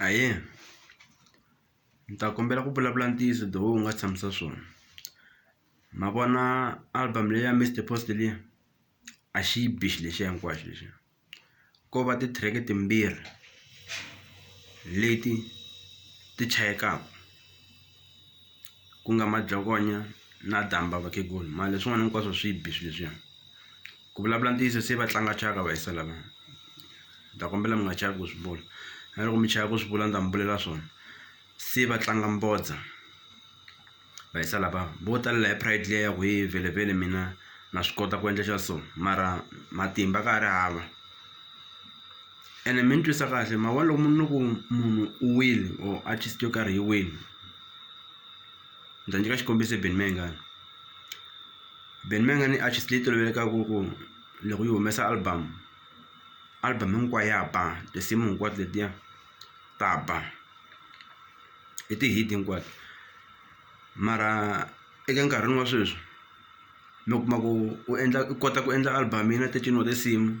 Ahee ni ta kombela ku vulavula ntiyiso the way u nga tshamisa swona ma vona album leyi ya Mister Post liya a xi yi bi xi lexiya hinkwaxo lexiya ko va ti-track timbirhi leti ti chayekaku ku nga madzokonya na damba vakhegula mara leswin'wana hinkwaswo swi bi swilo leswiya ku vulavula ntiyiso se va tlanga thyaka va hisa lava ni ta kombela mi nga chavi ku swi vula na loko mi chava ku swi vula ni ta mi vulela swona se va tlanga mbodza va hisa lava vo talela hi pride liya ya ku he vhelevhele mina na swi kota ku endla xa so mara matimba ka ha ri hava. Ene mi ni twisa kahle hi mhaka loko ni ku munhu u wile or artist yo karhi yi wile ni ta nyika xikombiso hi Benny Mayengani Benny Mayengani i artist leyi tolovelekaku ku loko yi humesa album album hinkwayo ya ba tinsimu hinkwato letiya ta ba i ti-hit hinkwato mara eka nkarhini wa sweswi mi kuma ku u endla u kota ku endla album yi na thirteen wa tinsimu.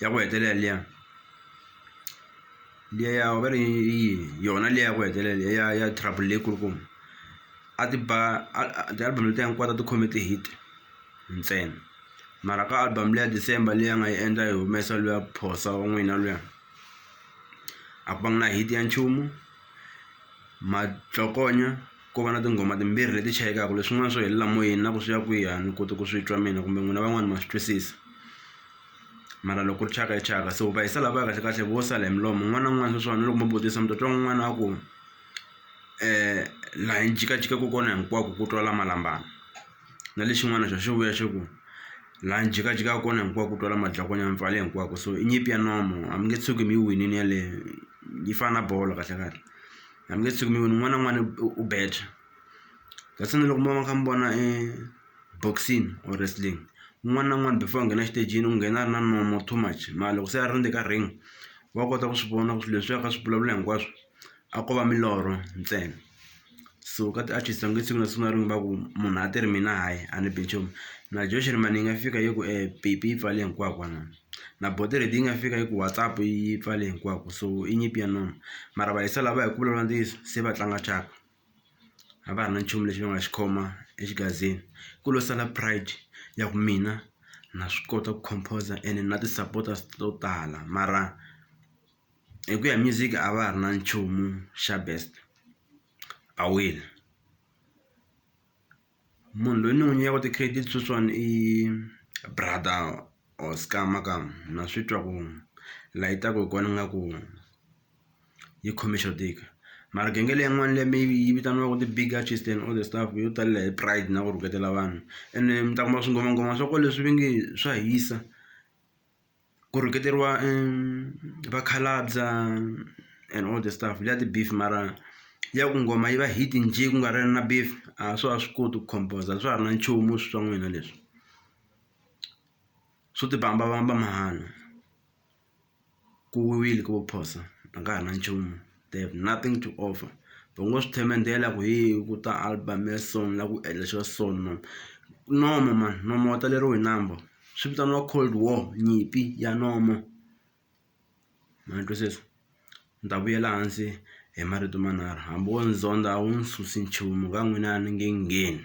ya ku hetelela liya liya ya va ri yini yona liya ya ku hetelela liya ya ya trouble leyi kulukumba a ti ba a ti-album letiya hinkwato a ti khome ti-hit ntsena mara ka album leya December leyi a nga yi endla yi humesa luya phosa wa n'wina luya a ku va nga na hit ya nchumu matlokonya ko va na tinghoma timbirhi leti chayekaka leswin'wana swo helela moyeni na ku swi ya kwihi a ni koti ku swi twa mina kumbe n'wina van'wani ma swi twisisa. mara loko ri thyaka i thyaka so va hisa lavaya kahle kahle vo sala hi milomo un'wana na un'wana sweswiwani loko mo vutisa mi ta twa un'wana a ku laha ni jikajika ku kona hinkwako ku twala malambana na lexin'wana xa xi vuya xi ku laha ni jikajikaka kona hinkwako ku twala madlakwani ya mi pfale hinkwako so i nyimpi ya nomo a mi nge tshuki mi yi winile yaleyo yi fana na bolo kahle kahle a mi nge tshuki mi wini un'wana na un'wana u beja kasi na loko mo va mi kha mi vona . boxing or wrestling un'wana na un'wana before a nghena exitejini u nghena a ri na nomo too much mara loko se a rindze ka ring wa kota ku swi vona ku swilo leswi a ka swi vulavula hinkwaswo a ko va milorho ntsena so ka ti-artist va nge siku na siku na rin'we va ku munhu a ti ri mina hayi a ni bi nchumu na Joe Shirimani yi nga fika yi ku Pipi yi pfale hinkwako vanhu na Bodered yi nga fika yi ku WhatsApp yi pfale hinkwako so i nyimpi ya nomu mara va hi sala va hi ku vulavula ntiyiso se va tlanga thyaka. a va ha ri na nchumu lexi va nga xi khoma exigazini ku lo sala pride ya ku mina na swi kota ku composer ene na ti-supporters to tala mara hi ku ya hi music a va ha ri na nchumu xa best a wile. Munhu loyi ni n'wi nyikaka ti-credit sweswiwani i brother or scammer ka na swi twa ku la yi taku hi kona ingaku yi khome xo tika mara genge leyin'wani leyi mi yi vitaniwaku ti-big artist and all the stuff yo talela hi pride na ku rhuketela vanhu ene mi ta kuma swingomangoma swa ko leswi ve nge swa hisa. ku rhuketeriwa vakhalabya and all the stuff liya ti-beef mara liya ku nghoma yi va hit njhe ku nga ri na beef a swa ha swi koti ku compose-a a swa ha ri na nchumu swi swa n'wina leswi swo tibambabamba mahala ku wile ko phosa a ka ha ri na nchumu. they have nothing to offer va ngo swi themendela ku hi ku ta album ya so na ku endla xa so no nomo mani nomo wa taleriwa hi number swi vitaniwa cold war nyimpi ya nomo ma ni twisisa ni ta vuyela hansi hi marito manharhu hambi wo ni zondza a wu ni susi nchumu ka n'wina a ni nge ngheni.